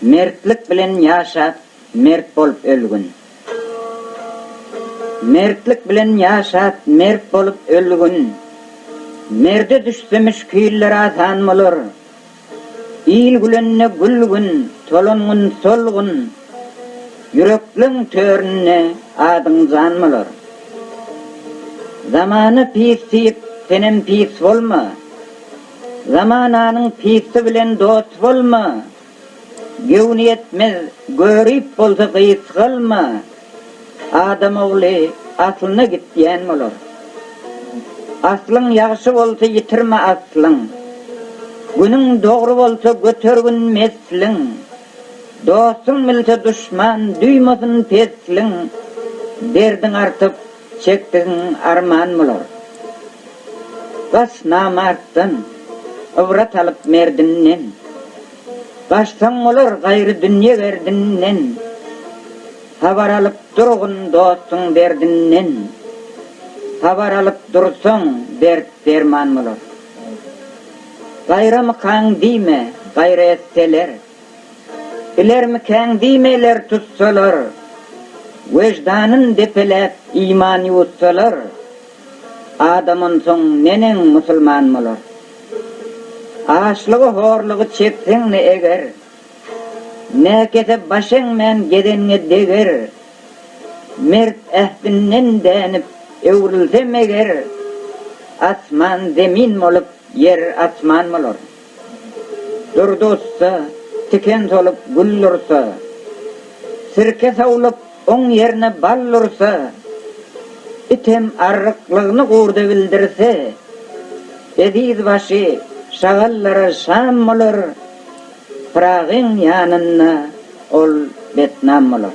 Mertlik bilen ýaşap, mert bolup ölgün. Mertlik bilen ýaşap, mert bolup ölgün. Merde düşse müşkiller asan bolar. Il gülende gülgün, tolan gün solgun. Ýürekleň töründe adyň jan bolar. Zamana pis diýip, senem pis bolma. Zamananyň pissi bilen dost bolma, Göwnüýetmez görip bolsa gys galma, Adam ogly aslyna git diýen bolar. Aslyň ýagşy bolsa ýitirme aslyň, Günüň dogry bolsa götergin mesliň, Dostuň bilse duşman duýmasyn pesliň, Derdiň artyp Çekdigiň arman bolar. Bas namartdan, ybrat alyp merdinden. Gaçsaň bolar gaýry dünýe gerdinden. Habar alyp durgun dostuň derdinden. Habar alyp dursaň dert derman bolar. Gaýramykaň diýme, gaýra etseler. Bilermikäň diýmeler tutsalar, Weždanyn depeläp iman ýuwutsalar, Adam onsoň neneň musulman bolar? Açlygy horlugy çekseň-de eger, Näkese baş eňmän gezenňe deger, Mert ähdinden dänip öwrülse meger, Asman zemin bolup ýer asman bolar. Durdy ussa, tiken solup gül dursa, Sirke sowlup oň ýerine bal dursa, Item arryklygyny gurda bildirse, Eziz başy şagallara şam bolar, Pyragyň ýanynda ol betnam bolar.